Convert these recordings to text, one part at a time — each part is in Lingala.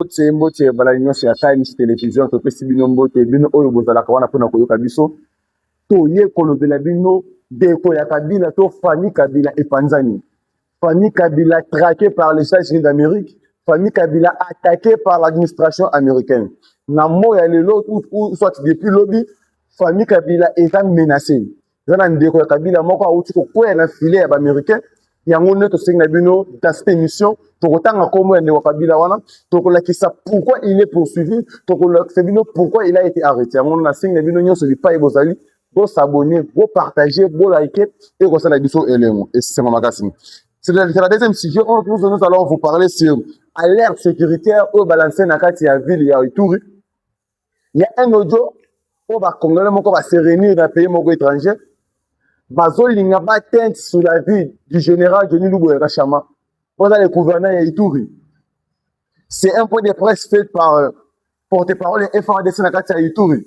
Mbote mbote balai nyonso ya Times Television, topesi bino mbote bino oyo bozalaka wana mpona koyoka biso. Toye kolobela bino deko ya Kabila to Fani Kabila epanzani. Fani Kabila traqué par les États-Unis d'Amérique, Fani Kabila attaqué par l'administration américaine. Na moya lelo ou soit depuis lobi, Fani Kabila est menacé. eza na ndeko ya kabila moko awuti kokweya na filet ya baaméricain yango nde tosengi na bino dans cette émission tokotanga nkombo ya ndeko kabila wana tokolakisa pourquoi il est poursuivi tokolakisa bino pourquoi il a été arrêté yango nasengi na bino nyonso bipai bozali bosabone bopartage bolike ekosala biso elengo esengo makasi c'est la deuxième sujet oyo nous, nous allons vous parler sur alerte sécuritaire oyo balanse na kati ya ville ya ituri Il y a un audio oyo ba congolais moko ba se réunir na pays moko étranger bazolinga ba teinte sur la vie du général Denis Luboya Kashama oza le gouverneur ya Ituri c'est un point de presse fait par euh, porte-parole ya FRDC na kati ya Ituri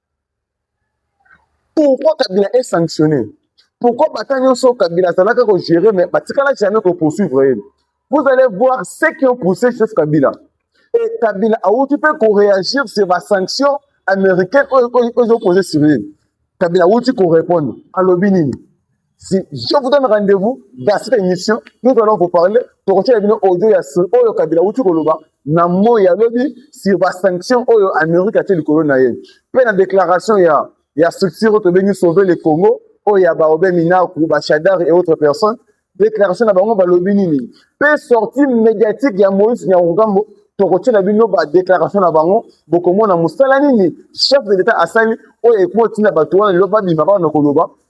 Pourquoi Kabila est sanctionné Pourquoi Bata Nyonso Kabila azalaka ko gérer mais batikala jamais ko poursuivre ye Vous allez voir ce qui ont poussé chef Kabila. Et Kabila a occupé pour réagir sur la sanction américaine aux opposés sur lui. Kabila a occupé pour répondre. Alobinini. Si je vous donne rendez-vous dans cette émission, nous allons vous parler. Tokotia bino audio ya sur oyo Kabila uti koloba na moyi ya lobi sur ba sanctions oyo Amérique atie likolo na ye. Mpe na déclaration ya ya structure oyo tobengi sauver le Congo oyo ya Baobe Minaku, Bashadari et autres personnes. Déclaration na bango balobi nini? Mpe sortie médiatique ya Moïse Nyarugambo tokotiela bino ba déclaration na bango bokomona mosala nini chef de l'État asali oyo ekotinda bato wana lelo babima bana koloba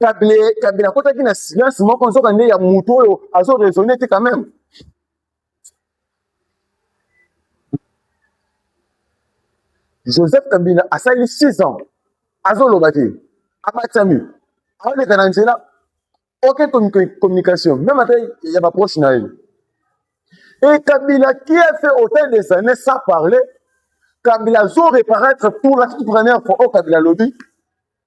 kabile kabile akotaki na silence moko nzoka nde ya moto oyo azo raisonne te quand même joseph kabila asali 6 ans azoloba te abatisami aoleka na nzela oke communication meme ata ya baproche na ye e kabila qui a fait autant des années sans parler kabila azo reparaître pour la toute première fois oyo oh, kabila alobi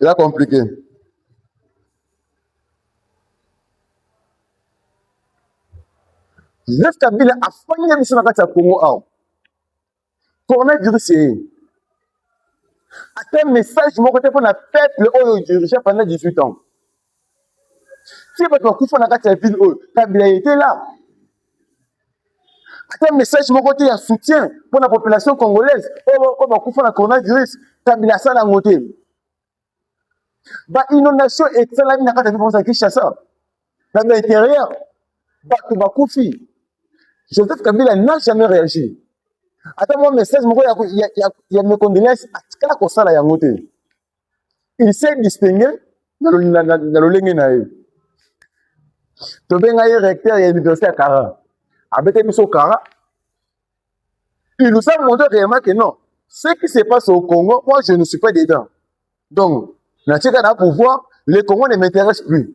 eza compliqué Joseph Kabila afandi na biso na kati ya Congo awa coronavirus eye ata message moko te mpo na peuple oyo dirige pendant 18 ans Tia bato bakufa na kati ya ville oyo kabila ete la ata message moko te ya soutien mpo na population congolaise oyo bakufa na coronavirus kabila asala yango te ba inondation esalami na kati ya ville ya kinshasa na ba intérieur bato bakufi joseph kabila n'a jamais réagi ata mwa message moko ya, ya, ya, ya mecondelance atikala kosala yango te il s'est distingue na lolenge na ye tobenga ye recteur ya université ya kara abete biso kara il nous a montré réellement que non ce qui se passe au congo moi je ne suis pas dedans donc natika na pouvoir le congo ne m'intéresse plus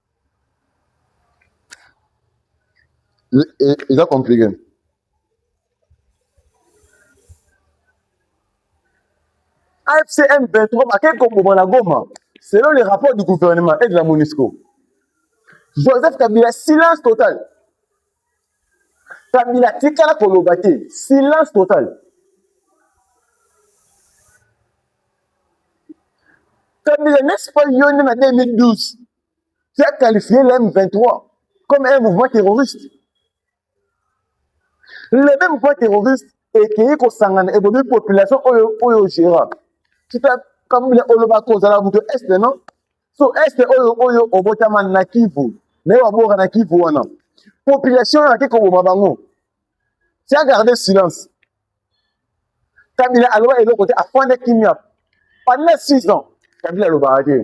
eza complique fcm 23 bakei koboma na goma selon les rapports du gouvernement et de la monisco joseph kabila silence total kabila atikala koloba te silence total kabila n'est-ce pas yo nde na 2012 qui a qualifié le M23 comme un mouvement terroriste le même mouvement terroriste ekeyi kosangana ebomi population oyo oyo gérant kita kabila olobaka ozalaka moto este non so este oyo oyo obotama na kivu naye waboka na kivu wana population oyo ake koboma bango tia garde silence kabila aloba eloko te afanda kimia pendant six ans kabila alobaka te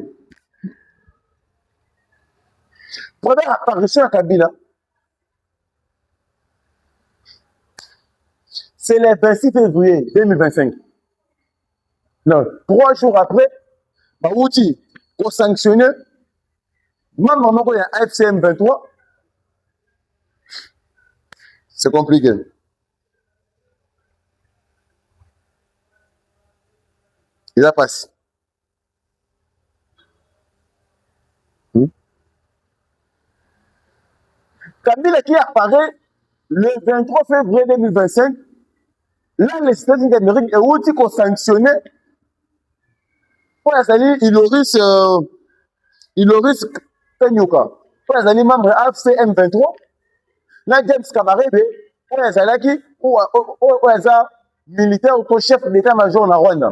première apparition ya kabila c'est le 26 février 2025 non trois jours après bawuti kosanctionne membre moko ya fcm 23 c'est compliqué eza mpasi Hmm? Kabila qui apparaît le 23 février 2025, là les États-Unis d'Amérique euti kosanctionne mpo azali Iloris euh, Iloris Kanyuka mpo azali membre ya AFC M23 na James Kabarebe oyo azalaki oyo aza militaire to chef d'état major na Rwanda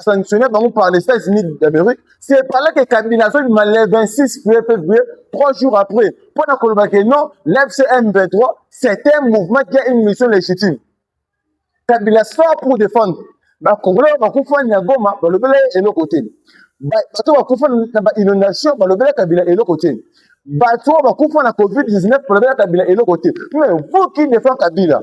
sanctionner bango par les états unis d'amérique c'est epala ke kabila azobima le 26 février trois jours après mpo na koloba ke non l'fcm 23 c'est un mouvement qui a une mission légitime kabila sort pour défendre bakongolais oyo bakufa na goma balobela ye eloko te bato bakufa na bainondation balobela kabila eloko te bato oyo bakufa na covid-19 balobela kabila eloko te mais vous qui défend kabila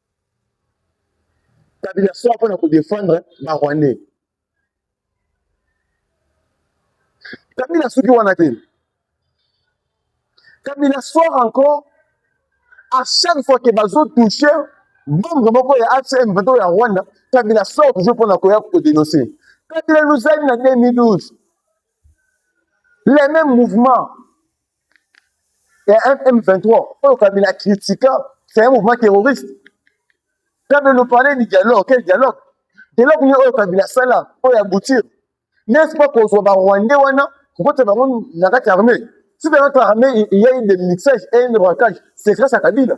kabila soit mpona kodefendre ba rwandais kabila soki wana te kabila soir encore à chaque fois ke bazotouche bombe moko ya acm bato ya rwanda kabila soir toujours mpona koya kodenonse kabila luzali na 2012 les mêmes mouvements ya M23 oyo Kabila critika c'est un mouvement terroriste Kabila nous parlait du dialogue quel dialogue dialogue nini oyo Kabila asala oyo aboutir n'est-ce pas kozwa ba Rwandais wana kokota bango na kati ya armée si dans notre armée il y a eu des mixages et un braquage c'est grâce à Kabila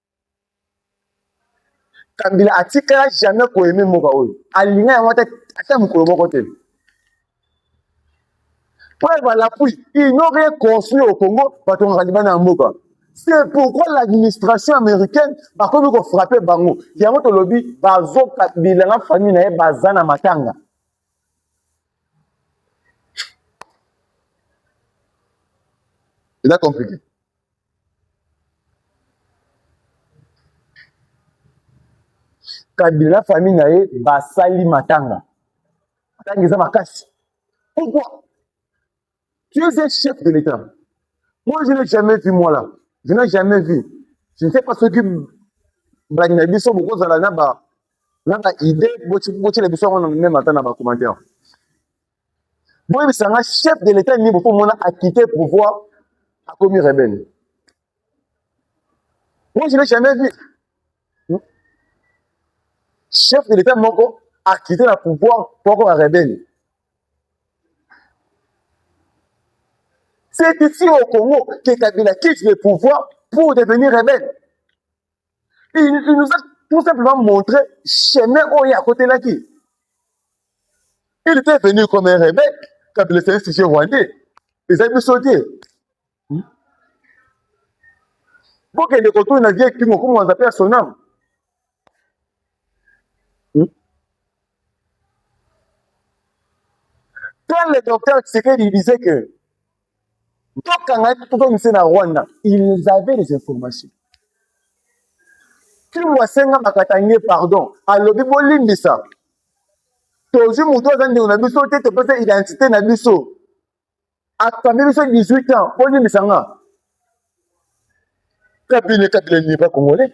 kabila atikala jamais koyeme mboka oyo alinga yango ata ata mokolo moko te preuve à l'appui ils n'ont rien construit au congo batongaka libanda ya mboka c'est pourquoi l'administration américaine bakomi kofrappe bango yango tolobi bazoka bilanga famille na ye baza na matanga eza compliqué kabila na famille na ye basali matanga matanga eza makasi pourquoi tu es un chef de l'état moi je n'ai jamais vu moi là je n'ai jamais vu je ne sais pas soki balandi na biso bokozala na ba na ba idée botyela biso yango na meme ata na bacommentaire boyebisa nga chef de l'etat nini boko mona akite pouvoir akomi rebelle moi je n'ai jamais vu chef de l'etat moko akite na pouvoir po akoma rebelle c'est ici au congo que kabila quitte le pouvoir pour devenir rebelle il, il nous a tout simplement montré chemin oyo akotelaki il était venu comme un rebec kabila ezali sujet rwandais ezali biso te hmm? bokende kotuni na vie kimo komo aza mpe ya sonam hmm? quand le docteur tshisekedi disait que tokanga ye tozongisa na rwanda ils avaient les informations ntango asenga bakatange pardon alobi bolimbisa tozwi moto aza ndeko na biso te topesa identité na biso akambi biso 18 ans bolimbisa nga kabine kabine n'est pas congolais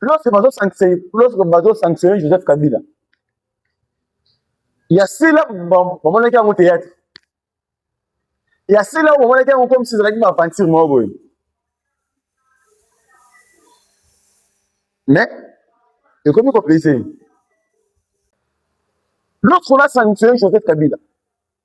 lorsque bazo sanctionner lorsque bazo sanctionner Joseph Kabila ya sila bamonaki yango théâtre ya sila bamonaki yango comme si ezalaki baaventure moko boye mais ekomi kopesa ye lorsqu'on a sanctionné Joseph Kabila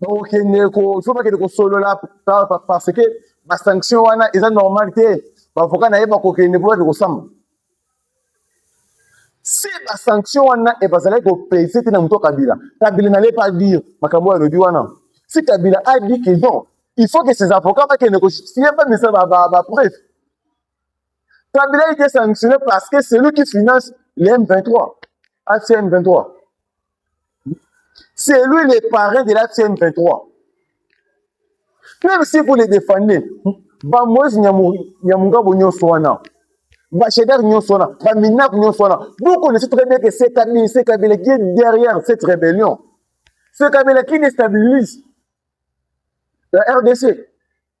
bakokende fo bakende kosolola parce que basanction wana eza normal te bavoka na ye bakokende mpo bakende kosamba si basanction wana e bazalaki kopese te na moto kabila kabila nale pas dire makambo oyo alobi wana si kabila a dit que non il faut que ses avocats bakende kojustifier bamisa bapreuve kabila ete sanctionne parce que celui qui finance le m23 acm 23 C'est lui le parrain de la CM23. Même si vous les défendez, ba Moïse Nyamungabo nyonso wana, ba Cheddar nyonso wana, ba Minap nyonso wana, vous connaissez très bien que c'est Kabila, c'est Kabila qui est derrière cette rébellion. C'est Kabila qui déstabilise la RDC.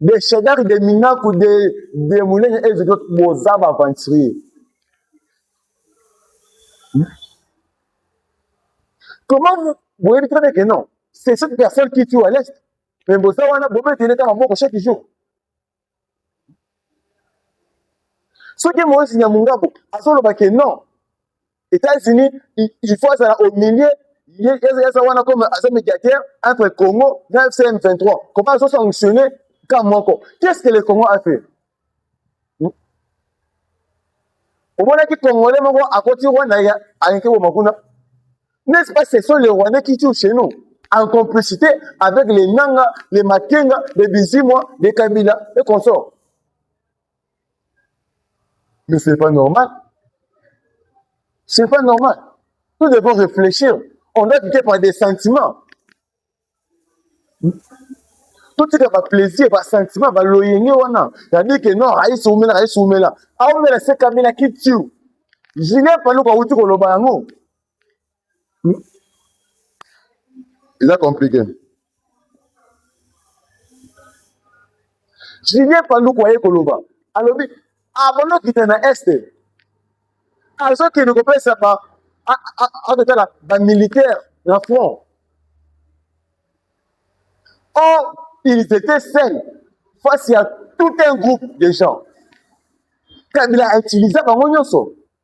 de shedar de minaku de de munene et de d'autres boza ba aventurier comment vous boyebi très bien que non c'est cette personne qui tue à l'est mais boza wana bobetele kaka moko chaque jour soki moyesi nyamungaku azoloba ke non États-Unis, il faut azala au milieu eza wana comme aza médiateur entre Congo na FCM 23. Comment azo sanctionner camp moko? Qu'est-ce que le Congo a fait? Hmm? omonaki congolais moko akoti rwanda ayeke boma kuna n'est-ce pas ce sont les rwandais qui tuent chez nous en complicité avec les nanga les makenga les bizimwa les kabila et consorts Mais c'est pas normal. C'est pas normal. Nous devons réfléchir. On doit quitter par des sentiments. totika baplaisir basentiment baloyenge wana yandi ke no ayisi umela ayisi umela aumela se kabila kitiu julien paluku awuti koloba yango eza compliqué julien panduku aye koloba alobi abanda okita na este azokende kopesa akotala bamilitaire na front or ils étaient seuls face ya tout un groupe de gens kabila autiliza bango nyonso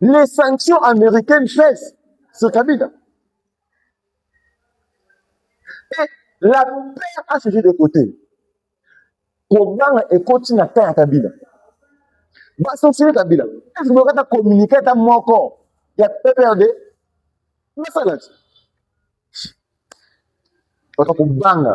Les sanctions américaines pèsent sur Kabila. Et la paix a changé de côté. kobanga ekoti na temps ya kabila basanctionne kabila esi boyoka ata communiqué ata moko ya pprd basalaki baka kobanga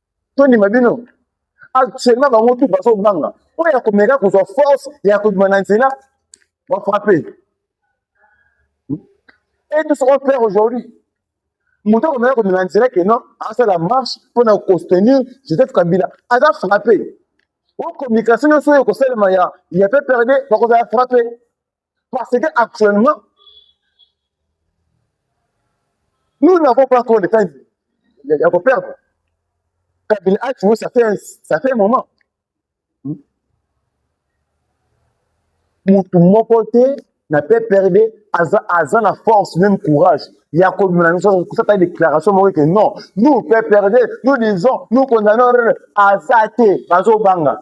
tondima bino actuellement bango tout bazobanga oyo ya komeka kozwa force ya kobima na nzela bafrappe et tout ce qu'on fait aujourd'hui moto akomeka komema na nzela ke non asala marche mpo na kostenir joseph kabila aza frappe o communication nyonso oyo ekosalema ya ya pprd bakozala frappe Parce que actuellement, nous n'avons pas encore le temps de perdre. Kabila a tué, ça fait, un, ça fait un moment. motu moko te na pprd aza, aza na force même courage ya kobima na biso kosata déclaration moko ete non nous pprd nous disons nous condamnons aza te bazobanga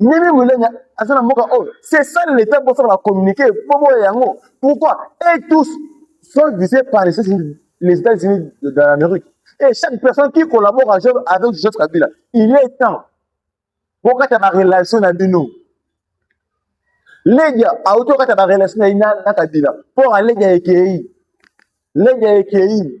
Mimi Mulenya aza na mboka oyo c'est ça l'état pour faire la communiquer pour boya yango pourquoi et tous sont visés par les États-Unis les États-Unis de, de l'Amérique et chaque personne qui collabore avec Joseph Kabila il est temps bokata ba relation na bino Ledia auto kata ba relation na na Kabila pour Ledia ekei Ledia ekei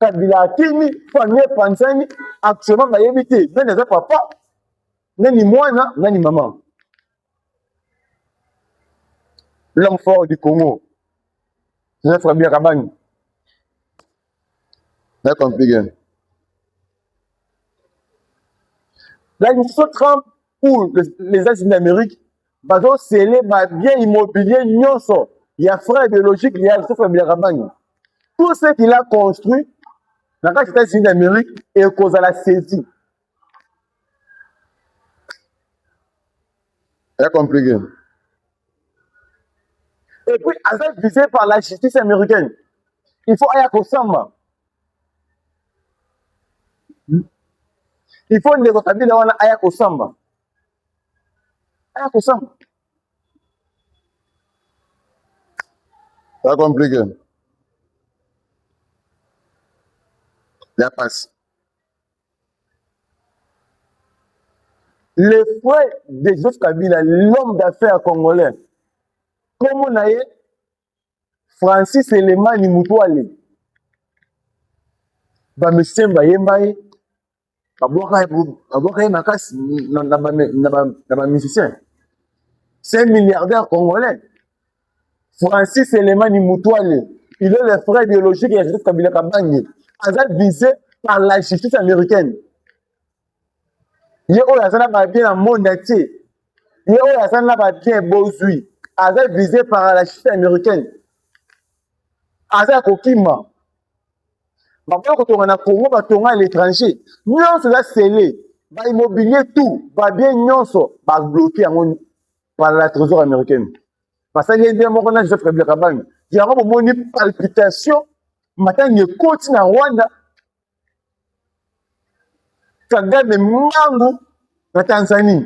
kabila akimi famille epanzani actuellement bayebi te nani aza papa nani mwana nani mama l'homme fort du congo joseph kabila kabani na compliqué la mission trump ou les, les états-unis d'amérique bazo sele ba bien immobilier nyonso ya frère biologique ya Christophe Biaramani tout ce qu'il a construit na kati États-Unis d'Amérique ekozala saisi ya compliqué et puis aza visé par la justice américaine il faut aya kosamba il faut ndeko kabila wana aya kosamba aya kosamba ça compliqué ya pasi le frère de joseph kabila l'homme d'affaires congolais komo na ye francis elemani mutwale bamisien bayemba ye babwaka ye makasi na bamusicien c'est milliardaire congolais francis elemani mutwale il est le frère biologique ya joseph kabila kabange aza vise par la justice américaine ye oyo aza na babien na monde entier ye oyo aza na babien bozwi aza vise par la chute américaine aza ya kokima bakoya kotonga na congo batonga à l'étranger nyonso eza sele baimmobilier tout babien nyonso babloke yango par la trésor américaine basali ye nde moko na joseph kabila kabange yango bomoni palpitation matanga ekoti na rwanda Kagame mbangu na Tanzanie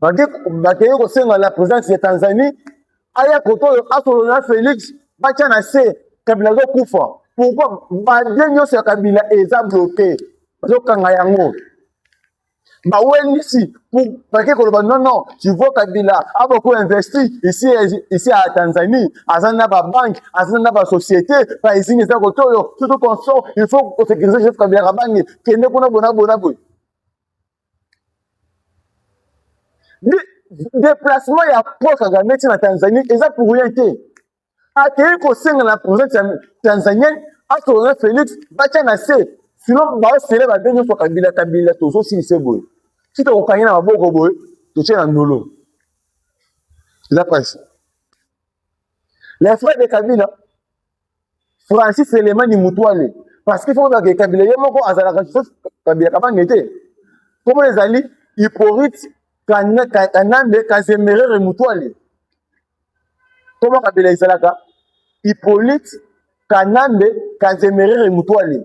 bakei kosenga la présence ya Tanzanie aya koto oyo asolola na Felix batya na se Kabila azokufa pourquoi badie nyonso ya Kabila eza bloke bazokanga yango bawelisi bake koloba non non tu vois kabila aboko investi ici ici à tanzanie aza na babanke aza na basociété baizini eza kotoyo surtout consort il faut kosécurise joseph kabila kabange kende kuna bona bona boye déplacement ya paul kagame ti na tanzanie eza pour rien te akei kosenga na presidente ya tanzanienne asolola felix batya na se sino baosele babe nyonso kabila kabila tozosilise boye tika kokangi na maboko boye totye na ndolo eza presse les frères de kabila francis elemani mutuale parce que foko bake kabila ye moko azalaka joseph kabila kabange te nkombo ezali hyporite kanambe kazemerere mutuale Comment Kabila ezalaka Hippolyte Kanambe Kanzemerere Mutwale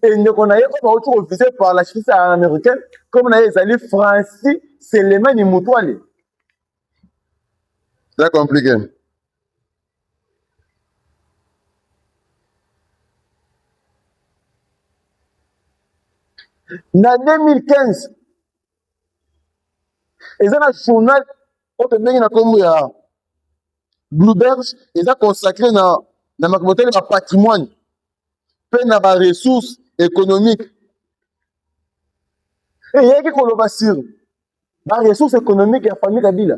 et ndeko na ye oyo bauti kovise par la justice américaine comme na ye ezali Francis Selemani Mutwale. C'est compliqué. Na 2015 eza na journal oyo pembeni na nkombo ya bluebirds eza consacré na na makambo etali bapatrimoine mpe na baressource économique eyaki koloba sur baressource économique ya famille kabila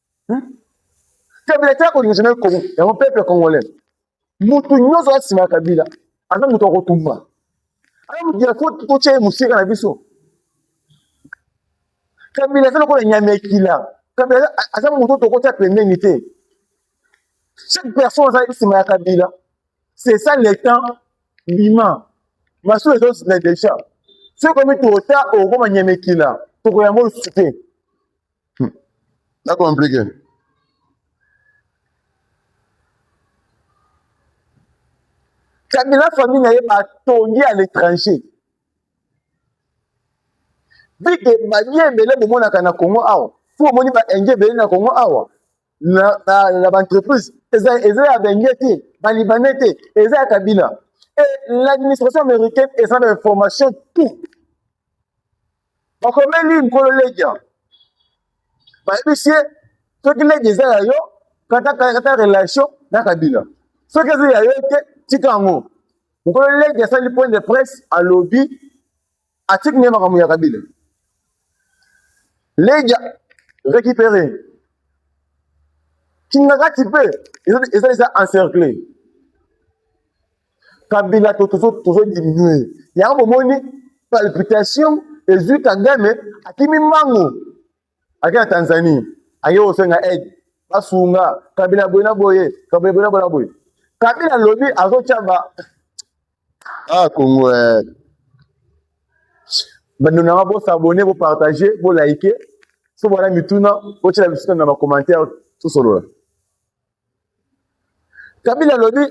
hmm? kabila te akolingisa na kongo yango peuple congolais mutu nyonso aza nsima ya kabila aza moto ya kotumba aza moto ya totya ye mosika na biso kabila aza lokola nyama ya kila kabila aza moto tokotya pembeni te chaque personne aza nsima ya kabila c'est ça le temps bima masolo ezozila déjà soki okomi tota okokoma nyama ekila tokoyango lisusu te Hmm. Na complique. Kabila famille na ye batongi à l'étranger. Bike balie ebele bomonaka na Congo awa. Fo omoni ba indien ebele na Congo awa. Na na, na ba entreprise eza eza ya benge te, ba libanais te, eza ya Kabila. Et l'administration américaine eza na information tout. bakomeli nkolo ledia bayebisi ye soki ledia eza ya yo katakata relation na kabila soki eza ya yo te tika yango nkolo ledia asali point de presse alobi atiki nde makambo ya kabila ledia récupéré kingakati mpe eza eza encerclé kabila to tozo tozo diminuer yango bomoni palpitation ezwi kagame akimi mbangu ake na tanzanie ake kosenga aide basunga kabila boye na boye kabila boye na boye na boye kabila alobi azotya ba ah kongo eh. bando nanga bosabone bopartage bolaike so bwana mituna botyela biso na bacommentaire tosolola kabila alobi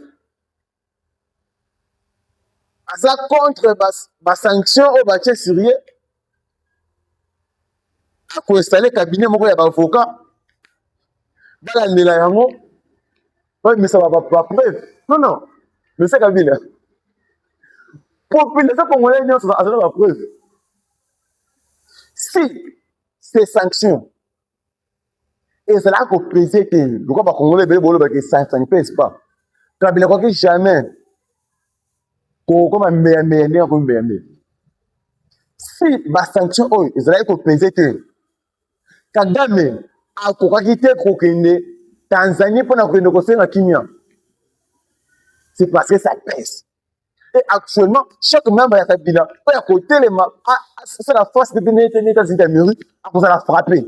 aza contre basanction oyo batye sur ye akoinstale cabinet moko ya baavoka balandela yango babimisa bapreuve non non monsieur kabila population congolais nyonso azala bapreuve si ces sanctions ezalaka kopese te lokola bakongole ebele bolobaka esansani mpe espa kabila akoki jamais kokoma mbeyameya ndenge akomi mbeyameya si basanction oyo ezalaki kopese te kagame akokaki te kokende tanzanie mpo na kokende kosenga kimia c'est parce que ça pese Et actuellement, chaque membre ya Kabila mpo ya kotelema asala face de nete nete azali ya mairie akozala frappe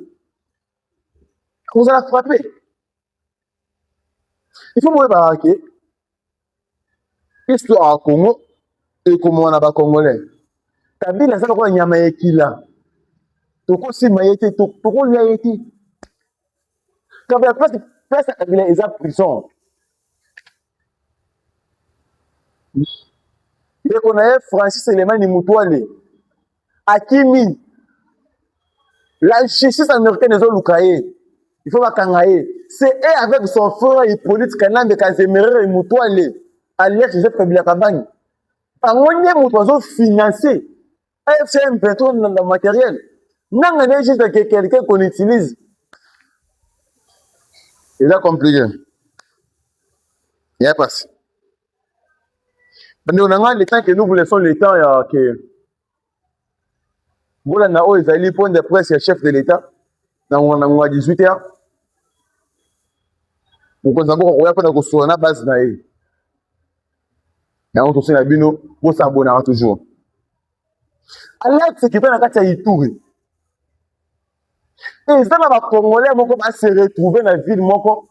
akozala frappe il faut boyebaka ke histoire ya congo ekomona na bacongolais kabila aza lokola nyama ya ekila tokosima ye te tokolia ye te kabila place ya kabila eza prison ndeko na ye Francis Elemani Mutwale akimi, la justice américaine ezoluka ye, il faut bakanga ye. C'est et avec son frère Hippolyte Kanambe Kazemerere Mutwale alias Joseph Kabila Kabange, bango nde moto bazofinanse AFM petrol na, na matériel nanga nde juste que quelqu'un qu'on utilise eza compliqué ya pasi bandeko na ngai le temps que nous vous laissons le temps ya ke bolanda oyo ezali point de presse ya chef de l'état na ngonga na ngonga 18 heures mokonzi ya mboka koya mpo na kosola na base na ye yango tosi na bino bosabonaka toujours alerte kita na kati ya ituri eza na bacongolais moko base retrouve na ville moko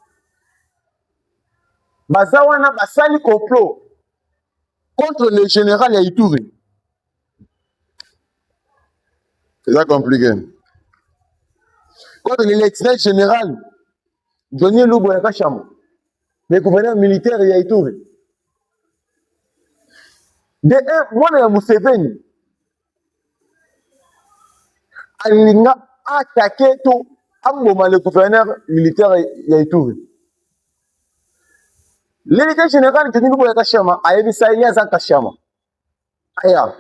baza wana basali complot contre le général ya ituri eza compliqué contre le lieutenant général jonie lubo ya kashambo le gouverneur militaire ya Ituri de un mwana ya Museveni alinga atake to amboma le gouverneur militaire ya Ituri l'élite général Denis Luboya Kashama ayebisa ye aza Kashama aya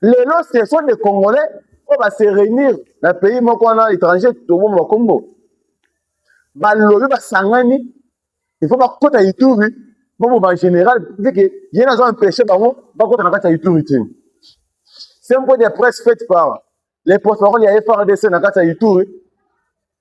lelo ce sont des congolais oyo ba se réunir na pays moko wana étranger toboma bakombo balobi basangani il faut bakota ituri bobo ba général ndike ye nazo empêcher bango bakota na kati ya ituri te c'est un point de presse faite par les porte-parole ya FRDC na kati ya ituri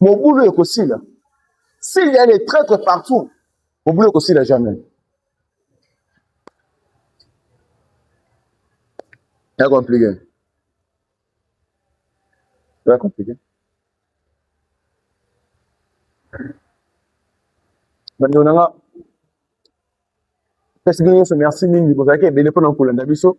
mobulu ekosila s'il y a les traitres partout mobulu ekosila jamais ya compliqué ya compliqué bandeko na nga pesi bino nyonso merci mingi bozalaki ebele mpona kolanda biso